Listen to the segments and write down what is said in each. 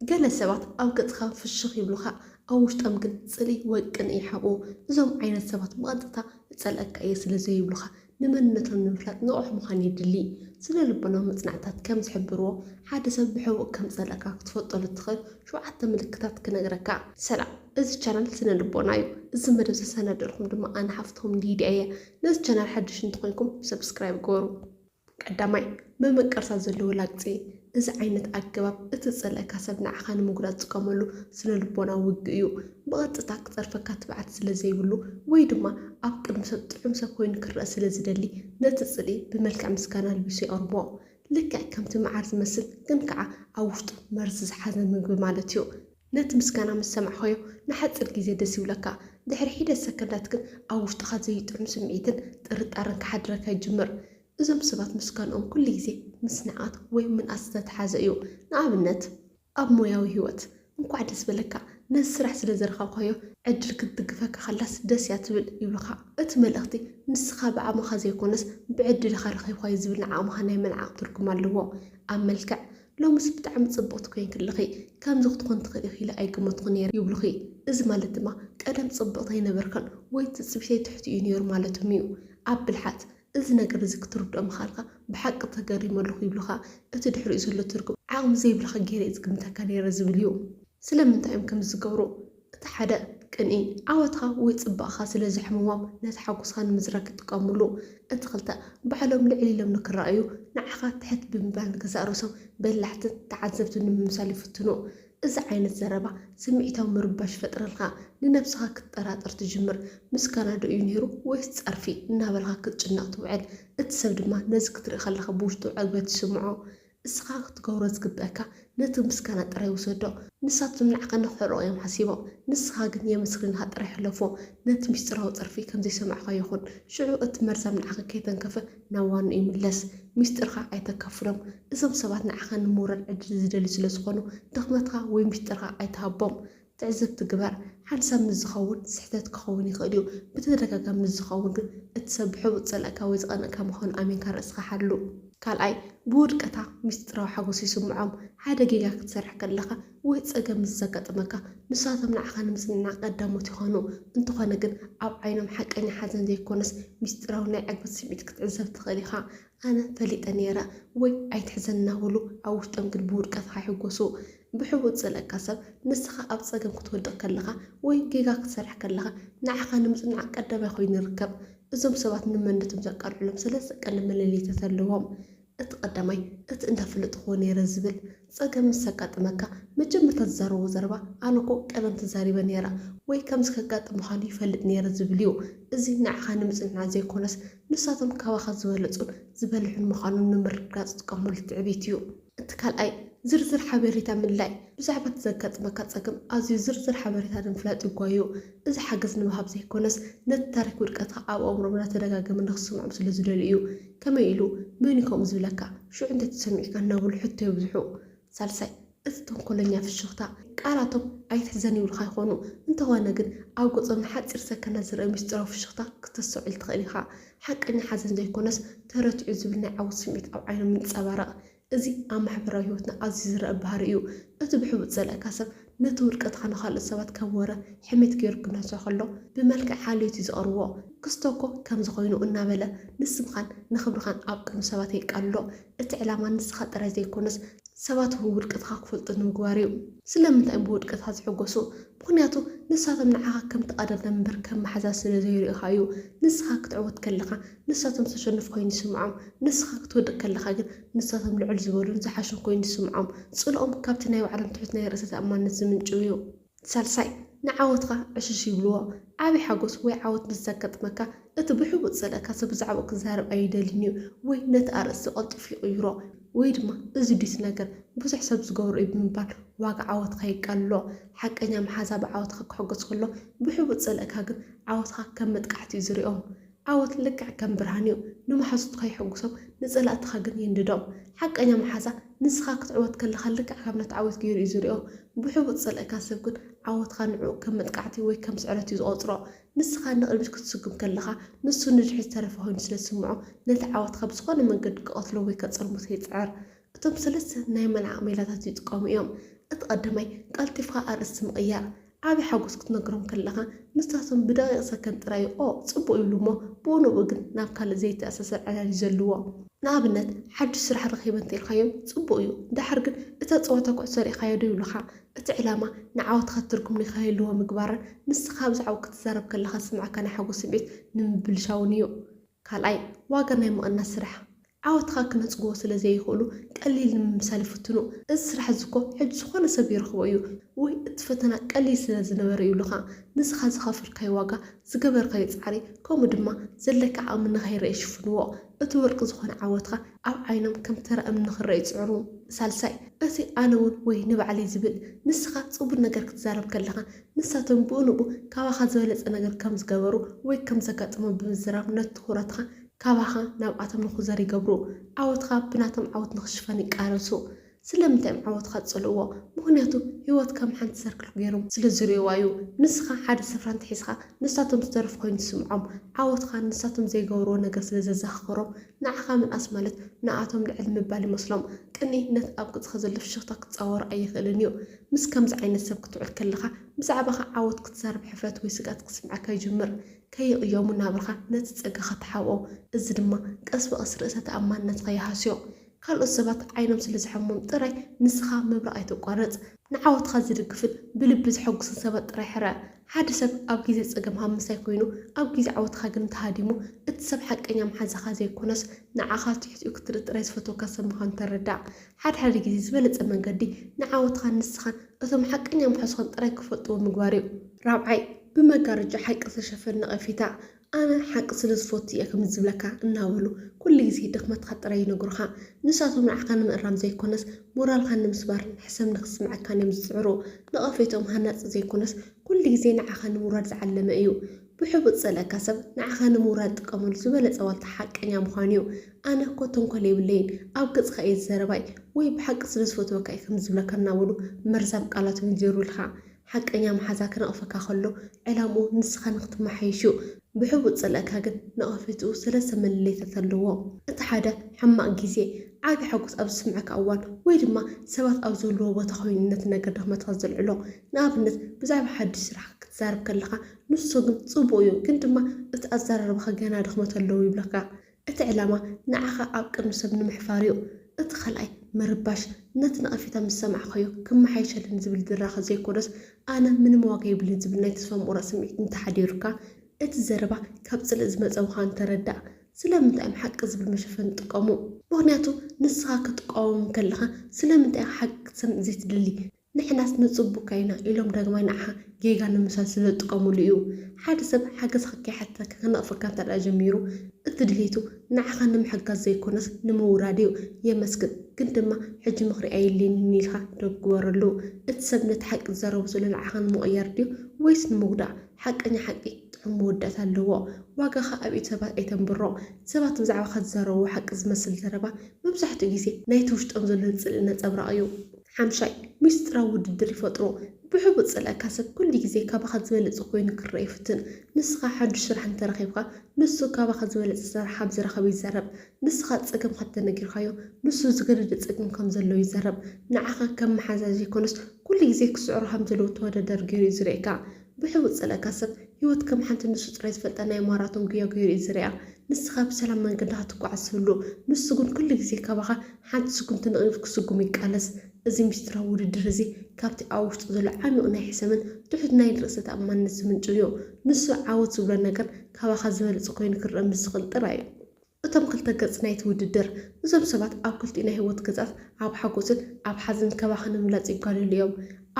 ገለ ሰባት ኣብ ገጽካ ፍሽኽ ይብሉኻ ኣብ ውሽጦም ግን ጽልኢ ወይ ቅንኢ ይሓብኡ። እዞም ዓይነት ሰባት ብቐጥታ እጸልኣካ እየ ስለ ዘይብሉኻ፣ ንመንነቶም ንምፍላጥ ንቑሕ ምዃን የድሊ። ስነ-ልቦናዊ መጽናዕትታት ከም ዝሕብርዎ፣ ሓደ ሰብ ብሕቡእ ከም ዝጸልኣካ ክትፈልጠሉ እትኽእል ሸውዓተ ምልክታት ክነግረካ። ሰላም እዚ ቻናል ስነ ልቦና እዩ እዚ መደብ ዘሰናደእልኩም ድማ ኣነ ሓፍትኩም ሊድያ እየ ነዚ ቻናል ሓድሽ እንተኮይንኩም ሰብስክራይብ ግበሩ። ቀዳማይ፣ ምምቅርታ ዘለዎ ላግጺ፣ እዚ ዓይነት ኣገባብ እቲ ዝጸልኣካ ሰብ ንዓኻ ንምጉዳእ ዝጥቀመሉ ስነ-ልቦናዊ ውግእ እዩ። ብቐጥታ ክጸርፈካ ትብዓት ስለ ዘይብሉ ወይ ድማ ኣብ ቅድሚ ሰብ ጥዑም ሰብ ኮይኑ ክረኣ ስለ ዝደሊ ነቲ ጽልኢ ብመልክዕ ምስጋና ኣልቢሱ የቕርቦ። ልክዕ ከምቲ መዓር ዝመስል ግን ከኣ ኣብ ውሽጡ መርዚ ዝሓዘ ምግቢ ማለት እዩ። ነቲ ምስጋና ምስ ሰማዕካዮ ንሓጺር ግዜ ደስ ይብለካ፣ ድሕሪ ሒደት ሰከንዳት ግን ኣብ ውሽጥኻ ዘይጥዑም ስምዒትን ጥርጣረን ክሓድረካ ይጅምር። እዞም ሰባት ምስጋንኦም ኩሉ ግዜ ምስ ንዕቀት ወይ ምንኣስ ዝተተሓሓዘ እዩ። ንኣብነት፣ ኣብ ሞያዊ ህይወት፣ እንኳዕ ደስ በለካ፣ ነዚ ስራሕ ስለ ዘረከብካዮ ዕድል ክትድግፈካ ከላስ ደስ እያ ትብል ይብሉኻ። እቲ መልእኽቲ ንስኻ ብዓቕምኻ ዘይኮነስ ብዕድልኻ ረኺብካዮ ዝብል ንዓቕምኻ ናይ ምንዓቕ ትርጉም ኣለዎ። ኣብ መልክዕ ሎምስ ብጣዕሚ ጽብቕቲ ኮይንኪ ኣለኺ፣ ከምዚ ክትኮኒ ትኽእሊ ኢኺ ኢለ ኣይገመትኹን ነይረ ይብሉኺ። እዚ ማለት ድማ ቀደም ጽብቕቲ ኣይነበርክን ወይ ትጽቢተይ ትሕቲ እዩ ነይሩ ማለቶም እዩ። ኣብ ብልሓት እዚ ነገር እዚ ክትርድኦ ምኽኣልካ ብሓቂ ተገሪመ ኣለኹ ይብሉኻ። እቲ ድሕሪኡ ዘሎ ትርጉም ዓቕሚ ዘይብልካ ገይረ እየ ዝግምተካ ነይረ ዝብል እዩ። ስለምንታይ እዮም ከምዚ ዝገብሩ? እቲ ሓደ ቅንኢ ዓወትኻ ወይ ጽባቐኻ ስለ ዘሕምሞም ነቲ ሓጎስኻ ንምዝራግ ይጥቀምሉ። እቲ ክልተ ባዕሎም ልዕል ኢሎም ንክረኣዩ ንዓኻ ትሕት ብምባል ንገዛእ ርእሶም በላሕትን ተዓዘብትን ንምምሳል ይፍትኑ። እዚ ዓይነት ዘረባ ስምዒታዊ ምርባሽ ይፈጥረልካ፣ ንነብስኻ ክትጠራጠር ትጅምር፣ ምስጋና ዶ እዩ ነይሩ ወይስ ጸርፊ እናበልካ ክትጭነቕ ትውዕል፣ እቲ ሰብ ድማ ነዚ ክትርኢ ከለኻ ብውሽጡ ዕግበት ይስምዖ። እስኻ ክትገብሮ ዝግበእካ ነቲ ምስጋና ጥራይ ውሰዶ። ንሳቶም ንዓኻ ንኽሕርቑ እዮም ሓሲቦም፣ ንስኻ ግን የመስግንኻ ጥራይ ሕለፎ። ነቲ ምስጢራዊ ጸርፊ ከም ዘይሰማዕካዮ ኹን። ሽዑ እቲ መርዛም ንዓኻ ከይተንከፈ ናብ ዋንኡ ይምለስ። ምስጢርካ ኣይተካፍሎም። እዞም ሰባት ንዓኻ ንምውራድ ዕድል ዝደልዩ ስለ ዝኾኑ፣ ድኽመትካ ወይ ምስጢርካ ኣይትሃቦም። ትዕዝብቲ ግበር፣ ሓንሳብ ምስ ዝኸውን ስሕተት ክኸውን ይኽእል እዩ፣ ብተደጋጋሚ ምስ ዝኸውን ግን እቲ ሰብ ብሕቡእ ዝጸልኣካ ወይ ዝቐንኣካ ምዃኑ ኣሚንካ ርእስኻ ሓሉ። ካልኣይ፣ ብውድቀታ ምስጢራዊ ሓጎስ ይስምዖም። ሓደ ጌጋ ክትሰርሕ ከለኻ ወይ ጸገም ምስ ዘጋጥመካ፣ ንሳቶም ንዓኻ ንምጽንናዕ ቀዳሞት ይኾኑ። እንተኾነ ግን ኣብ ዓይኖም ሓቀኛ ሓዘን ዘይኮነስ ምስጢራዊ ናይ ዕግበት ስምዒት ክትዕዘብ ትኽእል ኢኻ። ኣነ ፈሊጠ ነይረ ወይ ኣይትሕዘን እናበሉ ኣብ ውሽጦም ግን ብውድቀትኻ ይሕጎሱ። ብሕቡእ ዝጸልኣካ ሰብ ንስኻ ኣብ ጸገም ክትወድቕ ከለኻ ወይ ጌጋ ክትሰርሕ ከለኻ ንዓኻ ንምጽናዕ ቀዳማይ ኮይኑ ይርከብ። እዞም ሰባት ንመነቶም ዘቃልዑሎም ሰለስተ ቀንዲ መለለይታት ኣለዎም። እቲ ቀዳማይ እቲ እንዳ ፍልጥክዎ ነይረ ዝብል፣ ጸገም ምስ ዘጋጥመካ መጀመርታ ዝዛረቦ ዘረባ ኣነኮ ቀደም ተዛሪበ ነይረ ወይ ከምዚ ከጋጥም ምዃኑ ይፈልጥ ነይረ ዝብል እዩ። እዚ ንዓኻ ንምጽንናዕ ዘይኮነስ ንሳቶም ካባኻ ዝበለጹን ዝበልሑን ምዃኖም ንምርግጋጽ ዝጥቀሙሉ ትዕቢት እዩ። እቲ ካልኣይ ዝርዝር ሓቤሬታ ምድላይ ብዛዕባ እቲ ዘጋጥመካ ጸገም ኣዝዩ ዝርዝር ሓበሬታ ንምፍላጥ ይጓዩ። እዚ ሓገዝ ንምሃብ ዘይኮነስ ነቲ ታሪክ ውድቀትካ ኣብ ኣእምሮኦም እናተደጋገመ ንክስምዖም ስለ ዝደልዩ እዩ። ከመይ ኢሉ? መንዩ ከምኡ ዝብለካ? ሽዑ እንታይ ተሰሚዑካ? እናበሉ ሕቶ የብዝሑ። ሳልሳይ እቲ ተንኮለኛ ፍሽኽታ። ቃላቶም ኣይትሕዘን ይብሉኻ ይኾኑ፣ እንተኾነ ግን ኣብ ገጾም ንሓጺር ሰከንዳት ዝርኣ ምስጢራዊ ፍሽኽታ ክተስተውዕል ትኽእል ኢኻ። ሓቀኛ ሓዘን ዘይኮነስ ተረቲዑ ዝብል ናይ ዓወት ስምዒት ኣብ ዓይኖም ይንጸባረቕ። እዚ ኣብ ማሕበራዊ ህይወትና ኣዝዩ ዝረኣ ባህሪ እዩ። እቲ ብሕቡእ ዝጸልኣካ ሰብ ነቲ ውድቀትካ ንኻልኦት ሰባት ከም ወረ ሕሜት ገይሩ ክነሶ ከሎ ብመልክዕ ሓልዮት እዩ ዝቕርቦ። ክስቶ'ኮ ከምዚ ኮይኑ እናበለ ንስምካን ንኽብርኻን ኣብ ቅድሚ ሰባት የቃልሎ። እቲ ዕላማ ንስኻ ጥራይ ዘይኰነስ፣ ሰባት እውን ውድቀትካ ክፈልጡ ንምግባር እዩ። ስለምንታይ እዮም ብውድቀትካ ዝሕጐሱ? ምኽንያቱ ንሳቶም ንዓኻ ከም ተቐዳዳሚ እምበር ከም መሓዛ ስለ ዘይርእዩኻ እዩ። ንስኻ ክትዕወት ከለኻ፣ ንሳቶም ዝተሸነፉ ኰይኑ ይስምዖም። ንስኻ ክትወድቕ ከለኻ ግን፣ ንሳቶም ልዕል ዝበሉን ዝሓሹን ኰይኑ ይስምዖም። ጽልኦም ካብቲ ናይ ባዕሎም ትሑት ናይ ርእሰ-ተኣማንነት ዝምንጭው እዩ። ሳልሳይ፣ ንዓወትካ ዕሽሽ ይብልዎ። ዓቢ ሓጎስ ወይ ዓወት ምስ ዘጋጥመካ፣ እቲ ብሕቡእ ዝጸልኣካ ሰብ ብዛዕባኡ ክዛረብ ኣይደልን'ዩ ወይ ነቲ ኣርእስቲ ቀልጢፉ ይቕይሮ። ወይ ድማ እዚ ድዩ'ቲ ነገር፣ ብዙሕ ሰብ ዝገብሮ'ዩ ብምባል ዋጋ ዓወትካ የቃልሎ። ሓቀኛ መሓዛ ብዓወትካ ክሕጎስ ከሎ፣ ብሕቡእ ዝጸልኣካ ግን ዓወትካ ከም መጥቃዕቲ'ዩ ዝሪኦ። ዓወት ልክዕ ከም ብርሃን እዩ፣ ንመሓዙትካ የሐጕሶም፣ ንጸላእትኻ ግን ይንድዶም። ሓቀኛ መሓዛ፣ ንስኻ ክትዕወት ከለኻ ልክዕ ከም እተዓወት ገይሩ እዩ ዝርእዮ። ብሕቡእ ዝጸልኣካ ሰብ ግን ዓወትካ ንዕኡ ከም መጥቃዕቲ ወይ ከም ስዕረት እዩ ዝቖጽሮ። ንስኻ ንቕድሚት ክትስጕም ከለኻ፣ ንሱ ንድሕሪት ዝተረፈ ዀይኑ ስለ ዝስምዖ፣ ነቲ ዓወትካ ብዝዀነ መንገዲ ክቐትሎ ወይ ከጸልምቶ ይጽዕር። እቶም ሰለስተ ናይ መልዓቕ ሜላታት ይጥቀሙ እዮም። እቲ ቀዳማይ፣ ቀልጢፍካ ኣርእስቲ ምቕያር። ዓቢ ሓጎስ ክትነግሮም ከለኻ፣ ንሳቶም ብደቒቕ ሰከንድ ጥራይ ኦ ጽቡቕ ይብሉ እሞ ብኡ ንብኡ ግን ናብ ካልእ ዘይተኣሳሰር ዕላል እዩ ዘልዎ። ንኣብነት ሓድሽ ስራሕ ረኺበ እንተ ኢልካዮም ጽቡቕ እዩ፣ ደሓር ግን እታ ጸወታ ኩዕሶ ርኢኻዮ ዶ ይብሉኻ። እቲ ዕላማ ንዓወትካ ትርጉም ንኸይህልዎ ምግባርን ንስኻ ብዛዕባኡ ክትዛረብ ከለኻ ዝስምዓካ ናይ ሓጎስ ስምዒት ንምብልሻውን እዩ። ካልኣይ፣ ዋጋ ናይ ምቕናስ ስራሕ። ዓወትኻ ክነጽግዎ ስለ ዘይኽእሉ ቀሊል ንምምሳል ይፍትኑ። እዚ ስራሕ'ዚ እኮ ሕጂ ዝኾነ ሰብ ይረኽቦ እዩ ወይ እቲ ፈተና ቀሊል ስለ ዝነበረ እዩ ኢሉኻ። ንስኻ ዝኸፈልካዮ ዋጋ፣ ዝገበርካዮ ጻዕሪ ከምኡ ድማ ዘለካ ዓቕሚ ንኸይረኣ ይሽፍንዎ። እቲ ወርቂ ዝኾነ ዓወትካ ኣብ ዓይኖም ከም ተራ እምኒ ክረኣ ይጽዕሩ። ሳልሳይ፣ እቲ ኣነ'ውን ወይ ንባዕለይ ዝብል። ንስኻ ጽቡር ነገር ክትዛረብ ከለኻ ንሳቶም ብኡንብኡ ካባኻ ዝበለጸ ነገር ከም ዝገበሩ ወይ ከም ዘጋጠሞም ብምዝራብ ነቲ ትኹረትኻ ካባኻ ናብኣቶም ንኹዘር ይገብሩ። ዓወትካ ብናቶም ዓወት ንኽሽፈን ይቃለሱ። ስለምንታይ እዮም ዓወትካ ዝጸልእዎ? ምኽንያቱ ህይወት ከም ሓንቲ ሰርክል ገይሮም ስለ ዝርእዩዋ እዩ። ንስኻ ሓደ ስፍራ እንተሒዝካ ንሳቶም ዝተረፉ ኮይኑ ዝስምዖም። ዓወትካ ንሳቶም ዘይገበርዎ ነገር ስለ ዘዘኻኽሮም ንዓኻ ምንኣስ ማለት ንኣቶም ልዕል ምባል ይመስሎም። ቅንኢ ነቲ ኣብ ቅጽኻ ዘሎ ፍሽኽታ ክጻወሮ ኣይኽእልን እዩ። ምስ ከምዚ ዓይነት ሰብ ክትውዕል ከለኻ፣ ብዛዕባኻ ዓወት ክትዛረብ ሕፍረት ወይ ስግኣት ክስምዓካ ይጅምር። ከይቕየሙ ናብራኻ ነቲ ጸጋኻ ትሓብኦ፣ እዚ ድማ ቀስ ብቐስ ርእሰ ተኣማንነትካ ይሃስዮ። ካልኦት ሰባት ዓይኖም ስለ ዝሐሞም ጥራይ ንስኻ ምብራቕ ኣይተቋርጽ። ንዓወትካ ዝድግፍን ብልቢ ዘሐጉስን ሰባት ጥራይ ሕረ። ሓደ ሰብ ኣብ ግዜ ጸገም ሃብ ምሳይ ኮይኑ ኣብ ግዜ ዓወትካ ግን ተሃዲሙ፣ እቲ ሰብ ሓቀኛ መሓዛኻ ዘይኮነስ ንዓኻ ትሕትኡ ክትርኢ ጥራይ ዝፈትወካ ሰብ ምዃኑ ተረዳእ። ሓድሓደ ግዜ ዝበለጸ መንገዲ ንዓወትኻን ንስኻን እቶም ሓቀኛ ምሓዙኻን ጥራይ ክፈልጥዎ ምግባር'ዩ። ራብዓይ፣ ብመጋረጃ ሓቂ ዝተሸፈነ ነቐፌታ፣ ኣነ ሓቂ ስለ ዝፈቱ እየ ከምዚ ዝብለካ እናበሉ ኩሉ ግዜ ድኽመትካ ጥራይ ይነግሩኻ። ንሳቶም ንዓኻ ንምእራም ዘይኮነስ ሞራልካ ንምስባርን ሕሰም ንኽስምዐካን እዮም ዝጽዕሩ። ነቐፌትኦም ሃናጺ ዘይኮነስ ኩሉ ግዜ ንዓኻ ንምውራድ ዝዓለመ እዩ። ብሕቡእ ዝጸልኣካ ሰብ ንዓኻ ንምውራድ ዝጥቀመሉ ዝበለጸ ዋልታ ሓቀኛ ምዃኑ እዩ። ኣነ እኮ ተንኮል የብለይን፣ ኣብ ገጽካ እየ ዝዘረባይ ወይ ብሓቂ ስለ ዝፈትወካ እየ ከምዚ ዝብለካ እናበሉ መርዛም ቃላት ይውንጀሩልካ። ሓቀኛ መሓዛ ክነቕፈካ ከሎ ዕላምኡ ንስኻ ንኽትመሓየሽ እዩ። ብሕቡእ ዝጸልኣካ ግን ነቐፌትኡ ሰለስተ መለለይታት ኣለዎ። እቲ ሓደ ሕማቕ ግዜ፣ ዓቢ ሓጎስ ኣብ ዝስምዓካ እዋን ወይ ድማ ሰባት ኣብ ዘለዉዎ ቦታ ኮይኑ ነቲ ነገር ድኽመትካ ዘልዕሎ። ንኣብነት ብዛዕባ ሓድሽ ስራሕካ ክትዛረብ ከለኻ ንሱ ግን ጽቡቕ እዩ ግን ድማ እቲ ኣዘራርባኻ ገና ድኽመት ኣለዎ ይብለካ። እቲ ዕላማ ንዓኻ ኣብ ቅድሚ ሰብ ንምሕፋር እዩ። እቲ ካልኣይ ምርባሽ ነቲ ነቐፌታ ምስ ሰማዕካዮ ክመሓየሸለይ ንዝብል ድራኸ ዘይኮነስ ኣነ ምንም ዋጋ የብለይን ዝብል ናይ ተስፋ ምቑራጽ ስምዒት እንተሓዲሩካ፣ እቲ ዘረባ ካብ ጽልኢ ዝመጸ ምዃኑ ተረዳእ። ስለምንታይ እዮም ሓቂ ዝብል መሸፈኒ ዝጥቀሙ? ምኽንያቱ ንስኻ ክትቃወሞም ከለኻ ስለምንታይ ኢኻ ሓቂ ክትሰምዕ ዘይትደሊ? ንሕናስ ንጽቡካ ኢና ኢሎም ዳግማይ ንዓኻ ጌጋ ንምስራይ ስለዝጥቀምሉ እዩ። ሓደ ሰብ ሓገዝካ ከይሓተተካ ክነቕፈካ እንተድኣ ጀሚሩ እቲ ድሌቱ ንዓኻ ንምሕጋዝ ዘይኮነስ ንምውራድ እዩ። የመስግን ግን ድማ ሕጂ ምኽሪ ኣየድልየንን ኢልካ ዶብ ግበረሉ። እቲ ሰብ ነቲ ሓቂ ዝዛረቦ ዘሎ ንዓኻ ንምቕያር ድዩ ወይስ ንምጉዳእ? ሓቀኛ ሓቂ ጥዑም መወዳእታ ኣለዎ። ዋጋኻ ኣብ ኢድ ሰባት ኣይተንብሮ። ሰባት ብዛዕባኻ ዝዛረብዎ ሓቂ ዝመስል ዘረባ መብዛሕትኡ ግዜ ናይቲ ውሽጦም ዘሎ ጽልኢ ነጸብራቕ እዩ። ሓምሻይ፣ ሚስጢራዊ ውድድር ይፈጥሩ። ብሕቡእ ዝጸልኣካ ሰብ ኩሉ ግዜ ካባኻ ዝበለጸ ኮይኑ ክረኣ ይፍትን። ንስኻ ሓዱሽ ስራሕ እንተ ረኺብካ፣ ንሱ ካባኻ ዝበለጸ ስራሕ ከም ዝረኸበ ይዛረብ። ንስኻ ጸገምካ እንተ ነጊርካዮ፣ ንሱ ዝገደደ ጸገም ከም ዘለዎ ይዛረብ። ንዓኻ ከም መሓዛ ዘይኮነስ፣ ኩሉ ግዜ ክስዕሮ ከም ዘለዎ ተወዳዳሪ ገይሩ እዩ ዝርእየካ። ብሕቡእ ዝጸለእካ ሰብ፣ ህይወት ከም ሓንቲ ንሱ ጥራይ ዝፈልጣ ናይ ማራቶን ጉያ ገይሩ እዩ ዝርእያ። ንስኻ ብሰላም መንገድኻ ትጓዓዝ ትህሉ፣ ንሱ ግን ኩሉ ግዜ ካባኻ ሓንቲ ስጉምቲ ንቕድሚት ክስጉም ይቃለስ። እዚ ምስጢራዊ ውድድር እዚ ካብቲ ኣብ ውሽጡ ዘሎ ዓሚቝ ናይ ሕሰምን ትሑት ናይ ርእሰ ተኣማንነት ዝምንጩ እዩ። ንሱ ዓወት ዝብሎ ነገር ካባኻ ዝበለጸ ኮይኑ ክርኣ ምስ ዝኽእል ጥራይ እዩ። እቶም ክልተ ገጽ ናይቲ ውድድር፣ እዞም ሰባት ኣብ ክልቲኡ ናይ ህይወት ገጻት ኣብ ሓጎስን ኣብ ሓዘንን ከባኻ ንምብላጽ ይጓለሉ እዮም።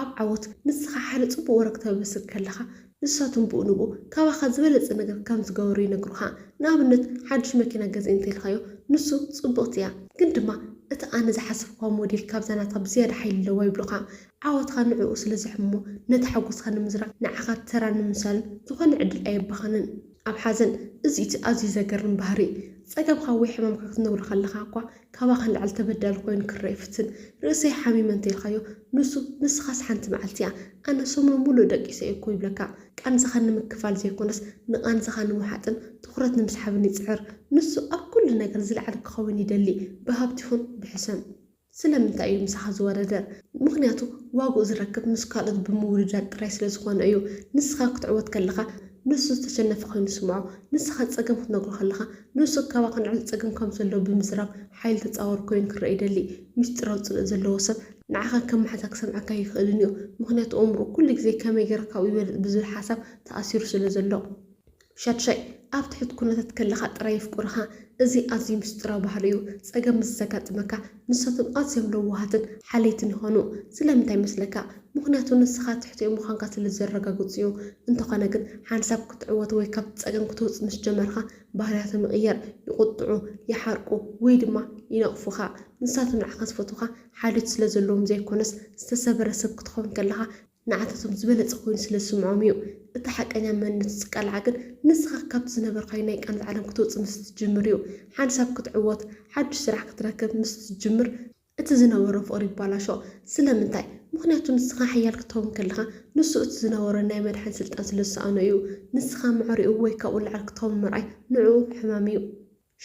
ኣብ ዓወት፣ ንስኻ ሓደ ጽቡቕ ወረ ክተበስር ከለኻ፣ ንሳቶም ብኡ ንብኡ ካባኻ ዝበለጸ ነገር ከም ዝገበሩ ይነግሩኻ። ንኣብነት ሓድሽ መኪና ገዝኢ እንተ ኢልካዮ፣ ንሱ ጽብቕቲ እያ፣ ግን ድማ እታ ኣነ ዝሓሰብክዋ ሞዴል ካብዛ ናትካ ብዝያዳ ሓይሊ ኣለዋ ይብሉኻ። ዓወትካ ንዕኡ ስለ ዘሕምሞ፣ ነቲ ሓጎስካ ንምዝራግ ንዓኻ ተራ ንምምሳሉ ዝኾነ ዕድል ኣየባኽንን። ኣብ ሓዘን እዚ እቲ ኣዝዩ ዘገርም ባህሪ። ጸገምካ ወይ ሕማምካ ክትነግሮ ከለኻ እኳ ካባኻ ንላዕሊ ተበዳሊ ኮይኑ ክረኣ ይፍትን። ርእሰይ ሓሚመ እንተኢልካዮ ንሱ ንስኻስ ሓንቲ መዓልቲ እያ፣ ኣነ ሰሙን ምሉእ ደቂሰ እየ እኮ ይብለካ። ቃንዛኻ ንምክፋል ዘይኮነስ ንቓንዛኻ ንምውሓጥን ትኹረት ንምስሓብን ይጽዕር። ንሱ ኣብ ኩሉ ነገር ዝለዓለ ክኸውን ይደሊ፣ ብሃብቲ ይኹን ብሕሰም። ስለምንታይ እዩ ምሳኻ ዝወረደ? ምኽንያቱ ዋግኡ ዝረክብ ምስ ካልኦት ብምውድዳር ጥራይ ስለ ዝኾነ እዩ። ንስኻ ክትዕወት ከለኻ ንሱ ዝተሸነፈ ኮይኑ ይስምዖ። ንስኻ ጸገም ክትነግሮ ከለኻ ንሱ ካባኻ ንዕሊ ጸገም ከም ዘለዎ ብምዝራብ ሓይሊ ተጻዋሪ ኮይኑ ክረኣ ይደሊ። ምስጢራዊ ጽልኢ ዘለዎ ሰብ ንዓኻ ከም መሓዛ ክሰምዓካ ኣይክእልን እዩ። ምኽንያቱ ኣእምሮኡ ኩሉ ግዜ ከመይ ጌረ ካብኡ ይበልጽ ብዝብል ሓሳብ ተኣሲሩ ስለ ዘሎ። ሻድሻይ፣ ኣብ ትሑት ኵነታት ከለኻ ጥራይ የፍቅሩኻ። እዚ ኣዝዩ ምስጢራዊ ባህሉ እዩ። ጸገም ምስ ዘጋጥመካ፣ ንሳቶም ኣዝዮም ለዋሃትን ሓለይትን ይዀኑ። ስለምንታይ መስለካ? ምኽንያቱ ንስኻ ትሕቲኦም ምዃንካ ስለ ዘረጋግጹ እዩ። እንተዀነ ግን፣ ሓንሳብ ክትዕወት ወይ ካብቲ ጸገም ክትወጽእ ምስ ጀመርካ፣ ባህርያቶም ይቕየር። ይቝጥዑ፣ ይሓርቁ ወይ ድማ ይነቕፉኻ። ንሳቶም ንዓኻ ዝፈትዉኻ ሓልዮት ስለ ዘለዎም ዘይኰነስ፣ ዝተሰብረ ሰብ ክትከውን ከለኻ ንዓታቶም ዝበለጸ ኮይኑ ስለ ዝስምዖም እዩ። እቲ ሓቀኛ መንነት ዝቃላዕ ግን ንስኻ ካብቲ ዝነበርካዮ ናይ ቅንት ዓለም ክትወጽእ ምስ እትጅምር እዩ። ሓንሳብ ክትዕወት፣ ሓድሽ ስራሕ ክትረክብ ምስ እትጅምር፣ እቲ ዝነበሮ ፍቕሪ ይባላሾ ስለምንታይ ምኽንያቱ ንስኻ ሓያል ክትኸውን ከለኻ ንሱ እቲ ዝነበሮ ናይ መድሓን ስልጣን ስለ ዝሰኣኖ እዩ። ንስኻ መዕሪኡ ወይ ካብኡ ንላዕሊ ክትኸውን ምርኣይ ንዕኡ ሕማም እዩ።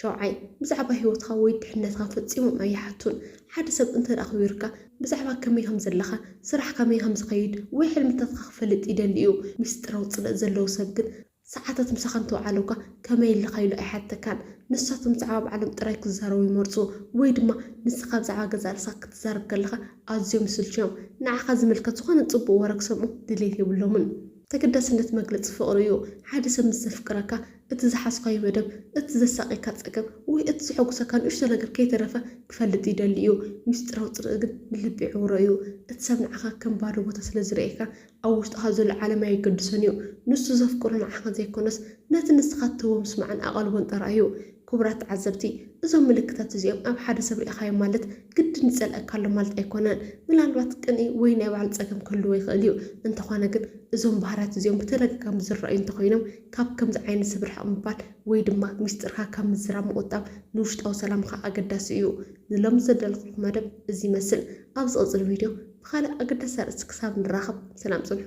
ሻውዓይ፣ ብዛዕባ ህይወትካ ወይ ድሕነትካ ፈጺሞም ኣይሓቱን። ሓደ ሰብ እንተ ኣኽቢሩካ፣ ብዛዕባ ከመይ ከም ዘለኻ፣ ስራሕ ከመይ ከም ዝኸይድ ወይ ሕልምታትካ ክፈልጥ ይደሊ እዩ። ምስጢራዊ ጽልእ ዘለዎ ሰብ ግን ሰዓታት ምሳኻ እንተ ወዓሉካ ከመይ ኣለኻ ኢሉ ኣይሓተካን። ንሳቶም ብዛዕባ ባዕሎም ጥራይ ክዛረቡ ይመርጹ ወይ ድማ ንስኻ ብዛዕባ ገዛእ ርእስኻ ክትዛረብ ከለኻ ኣዝዮም ይስልችዮም። ንዓኻ ዝምልከት ዝኾነ ጽቡቕ ወረ ክሰምዑ ድሌት የብሎምን። ተገዳስነት መግለጺ ፍቕሪ እዩ። ሓደ ሰብ ምስ ዘፍቅረካ፣ እቲ ዝሓዝካዮ መደብ፣ እቲ ዘሳቕየካ ጸገም፣ ወይ እቲ ዘሐጉሰካ ንእሽቶ ነገር ከይተረፈ ክፈልጥ ይደሊ እዩ። ምስጢራዊ ጽልኢ ግን ንልቢ ይዕውሮ እዩ። እቲ ሰብ ንዓኻ ከም ባዶ ቦታ ስለ ዝርእየካ፣ ኣብ ውሽጥኻ ዘሎ ዓለም ኣየገድሶን እዩ። ንሱ ዘፍቅሮ ንዓኻ ዘይኮነስ፣ ነቲ ንስኻ እትህቦ ምስማዕን ኣቓልቦን ጥራይ እዩ። ክቡራት ተዓዘብቲ፣ እዞም ምልክታት እዚኦም ኣብ ሓደ ሰብ ርኢኻዮ ማለት፣ ግድን ይጸልኣካ ኣሎ ማለት ኣይኮነን። ምናልባት ቅንኢ ወይ ናይ ባዕሉ ጸገም ክህልዎ ይኽእል እዩ። እንተኾነ ግን እዞም ባህርያት እዚኦም ብተደጋጋሚ ዝረኣዩ እንተኾይኖም ካብ ከምዚ ዓይነት ሰብ ርሕቕ ምባል ወይ ድማ ሚስጥርካ ካብ ምዝራብ ምቑጣብ ንውሽጣዊ ሰላምኻ ኣገዳሲ እዩ። ንሎሚ ዘዳለኹልኩም መደብ እዚ ይመስል። ኣብ ዝቕጽል ቪድዮ ብኻልእ ኣገዳሲ ኣርእስቲ ክሳብ ንራኸብ ሰላም ጽንሑ።